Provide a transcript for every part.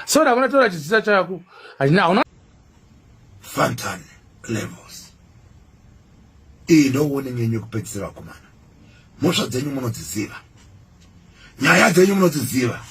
so ndakona tora chizita chako hazvina hauna fantan levels iyi ndouone nyenyu yekupedzisira vakomana mhosva dzenyu munodziziva nyaya dzenyu munodziziva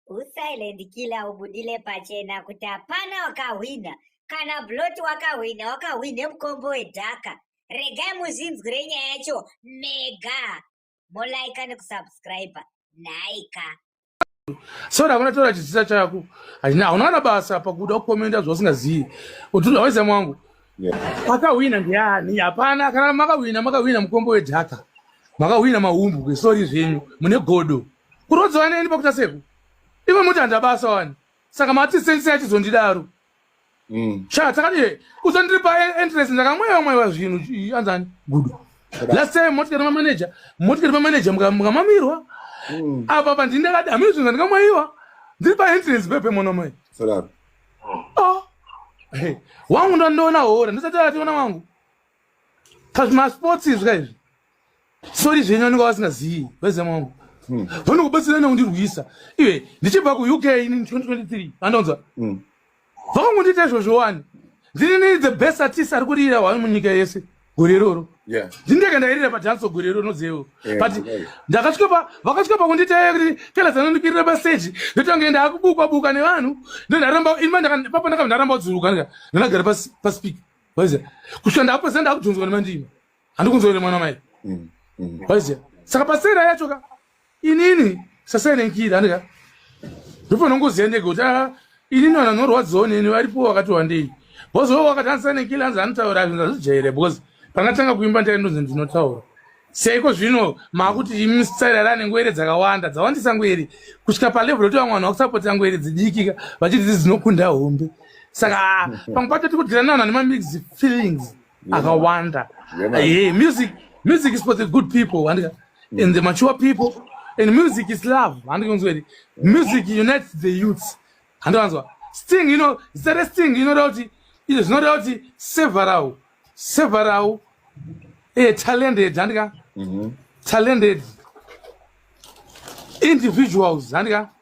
usilent killer ubudile pachena kuti hapana wakahwina kana blot wakahwina wakahwine mukombo wedhaka regai muzvinzwire nyaya yacho mega molaika nekusubscriber nhaika sori havana taura chidzisa chako hauna kana basa pakuda kukomenda zvausingazivi kuti hawaiza mwangu akahwina ndiani hapana kana makahwina makahwina mukombo wedhaka makahwina mahumbwe sori zvenyu mune godo kurodzwa neni pakuta seku ivo muti handabasa wani saka mati sensei achizondidaro mm. sha takati usandiripa e-, entrance ndakamweva mweva zvinhu anzani gudu last time motikati mamaneja motikati mamaneja mukamamirwa mm. apa pa ndini ndakati hamiri zvinhu zvandikamwaiwa ndiri pa entrance pepe mwana mai ah. wangu ndandoona hora ndisati ationa wangu kazvimasports izvi kaizvi sori zvenyu vanenge vasingazivi vezemo wangu hmm. vanokubatsira nekundirwisa iwe ndichibva kuuk ini 2023 anonzwa hmm. vakangondiita izvozvo wani ndinini the best artist ari kurira hwani munyika yese gore iroro ndindeke ndairira padanso gore iroro nozevo but ndakasvika vakasvika pakunditaya kuti kela zanondikirira paseji ndotange ndaakubukwa buka nevanhu ndondaramba inipapa ndakabva ndaramba kudzurukanga ndandagara paspik kusvika ndakapesa ndakudhonzwa nemandima handikunzwa ine mwana mai mm, mm. waiziva saka pasera yacho ka inini sasainenkiira andika ndopanongoziva ndege kuti a ah, inini vanhu vanorwadziwa neni varipo vakati wandei bozova wakati andisainenkiira anzi anotaura zvinhu azvijaire because pangatanga kuimba ndaindonzi ndinotaura seiko zvino makuti imi sitsairara nengwere dzakawanda dzawandisa ngwere kusvika palevel yoti vamwe vanhu vakusapotera ngwere dzidikika vachiti dzi dzinokunda hombe saka pamwe pacho tiri kudirana vanhu vane mamix feelings akawanda hey, eh, music music is for the good people and, and the mature people and music is love handikunzweri music unites the youths handiwanzwa sting you know zita resting inoda kuti izvo zvinoda kuti several several eh, talented handika mm -hmm. talented individuals handika mm -hmm.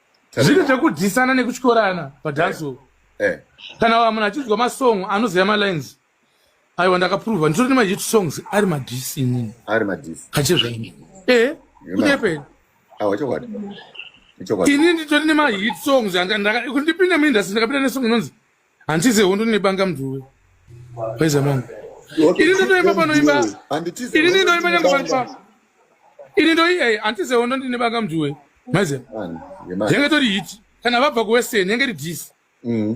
zviri zvekudhisana nekutyorana padhanso eh, eh. kana munhu achinzwa masong anoziva malines aiwa ndakaprova nditori nemahit songs ari madhisi inini ari madhisi kachezvaini e eh, kunyepera awa chokwadi ini nditori nemahit songs ndipinde muindastry ndakapinda nesong inonzi handize hondo nebanga mnduwe waiza mangu ini ndotoimba panoimba ini ndinoimba nyange panopa ini ndoi ei handize hondo ndine banga mnduwe maiza yenge tori hiti kana vabva kuwestern yenge ri dis mm,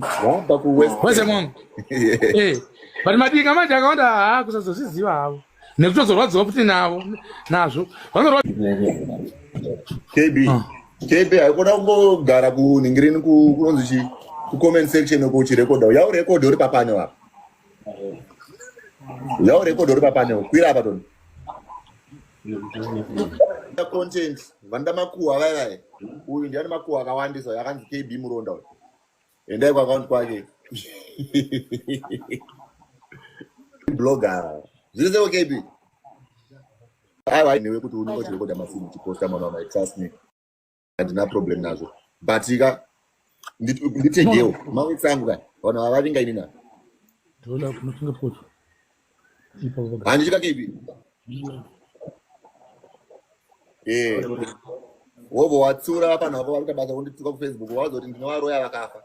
waiza mangu eh, but madinga manje akawanda haa kusazozviziva havo nekutozorwadziwa futi navo nazvo kb ah. kb haikuda kungogara kuningirini kunonzi chii kucomment section uko uchirekodha yaurekodha uri papaneo apa yaurekodha uri papaneo kwira apa toni content vanoda makuhwa vaivai uyu ndiani makuhwa akawandisa yakanzi kb muronda uyu Endai kwa account kwake. Blogger. Zvize okay bi. Awa newe kuti unenge uchirekoda mafilm uchiposta mwana wamai trust me. Handina problem nazvo. But ika nditegewo mawitsangu ka vanhu vavaringa ini na. Ndoda kunofunga foto. Handi chika kipi. Eh. Wobo watsura apa navo vari kabasa kundituka ku Facebook wazoti ndinovaroya vakafa.